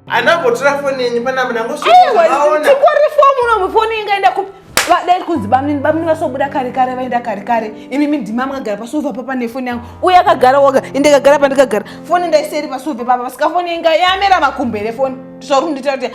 anambotora foni yenyu panapa nangostikore fomu unomu foni ingaenda kupi vadai kunzi bamnini bamnini vasobuda kare kare vaenda kare kare imi midhima mwagara pasova papa nefoni yangu uye akagara woga ende kagara pandikagara foni ndaiseri pasova papa vasika foni inga yamera makumbere foni tisauri kunditaura kuti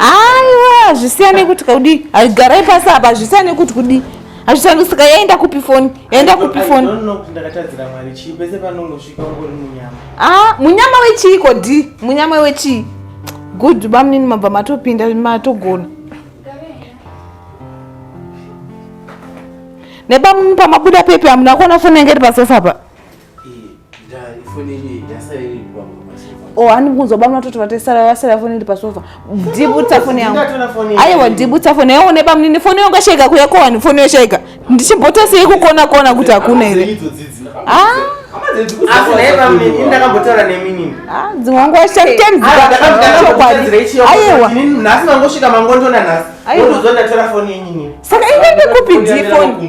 aiwa hazvisiyane kuti kudi garai pasi apa hazvisiyane kuti kudi hazvisiyane saka yaenda kupi foni yaenda kupi foni ah, munyama wechii kodi munyama wechii good bamunini mabva matopinda matogona nebamunini pamabuda pepi hamuna kuona foni yange iri pasofa pa Oh, ani kunzoba munatoti vatesara vasara foni iri pasofa dibutsa foni yangu aiwa dibutsa foni yangu neba munini foni yangu yashaika kuya kowani foni yashaika ndichimbota sei kukona kona kuti hakuna here ndakambotaura neminini ah, dzimwe nguva shamtenzaaaiwasaka inenge kupi difoni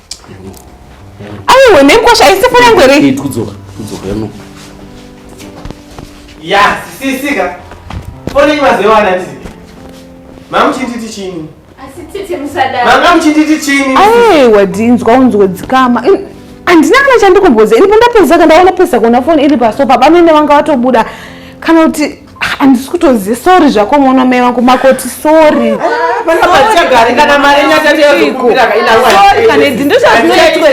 aiwe nekwasha aisipo yangu here eh, kudzoka kudzoka yano ya sisisika fone imazewana ti mamuchinditi chini manga muchinditi chini aiwa dinzwa unzwe dzikama handina kana chandikumboza ini pandapedza ka ndaona pesa kuona foni iri pasofa bamene vanga vatobuda kana kuti handisi kutoziva sori zvako mwana mai vangu makoti sori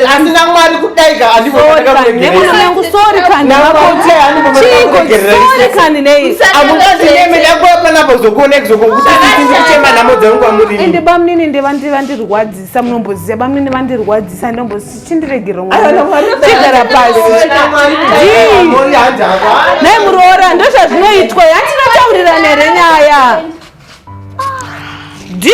asina mwari kudaikanemwana mai vangu sori kandiamuaeeakuonakuzokuonekzokuuchema nhamo dzangu kwamurii ende bamnini ndevandirwadzisa munomboziva bamnini vandirwadzisa ndomboziva chindiregerwa mwanachigara pasi naye muroora ndozvazvinoitwa yatinotaurirana here nyaya d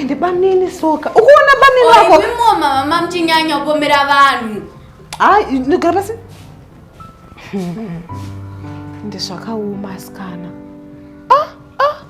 ende banini soka ukuona banini wako imimo mama mchinyanya kupomera vanhu hayi ndigara pasi ndizvakaoma asikana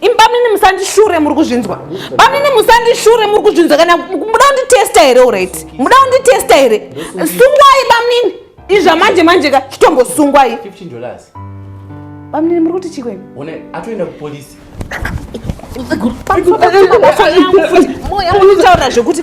imi bamnini musandishure muri kuzvinzwa bamnini musandishure muri kuzvinzwa kana muda kunditesta here orit muda kunditesta here sungwai bamnini izva manje manje ka chitombosungwai bamnini muri kuti chikweni atoenda kupolisi moya munotaura zvekuti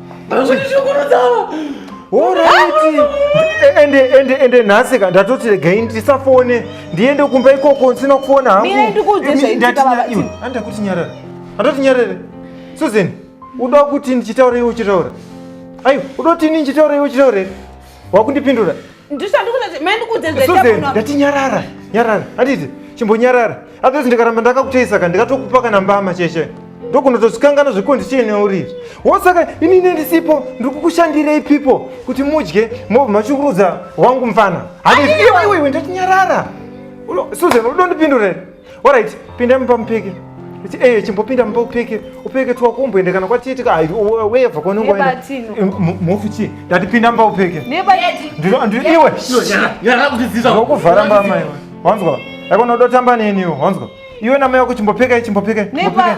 ende nhasi ka ndatoti regai ndisafone ndiende kumba ikoko ndisina kufona hanguandakuti nyarara andati nyarere susan uda kuti ndichitaura iwe uchitaura aiwa uda kuti ini ndichitaura iwe uchitaura wakundipindura ndati nyarara nyarara anditi chimbonyarara otherwise ndikaramba ndakakuteisa ka ndikatokupa kana mbama cheshe ndokunotozvikangana zvekundi chiine uri wosaka ini nendisipo ndiri kukushandirei pipo kuti mudye mobva machukurudza wangu mfana handiiwe ndatinyarara susan udondipindurere Alright, pinda mumba mupike. Ichi eh chimbopinda mumba upike. Upike tu wakumboenda kana kwatiti ka weva kwa nungu aenda. Mufu chi? Ndati pinda mumba upike. Neba yeti. Ndiro ndiro iwe. Yara kutiziza. Wakuvhara mama iwe. Wanzwa? Yako nodotamba nini iwe? Wanzwa? Iwe na mai wako chimbopike chimbopike. Neba.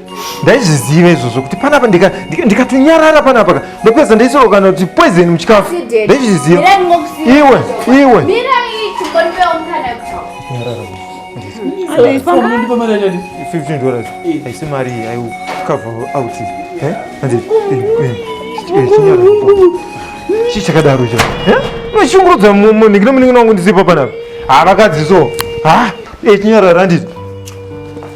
ndaizviziva izvozvo kuti panapa ndikatonyarara panapa ka ndopedza ndaisorokana kuti poison muchikafu ndaizviziva iwe iwe fifteen dollars haisi mari aicover out chii chakadaro icho vachishungurudza munhikinomunin'ina wangu ndisipa panapa havakadzi so ha echinyarara ndizvo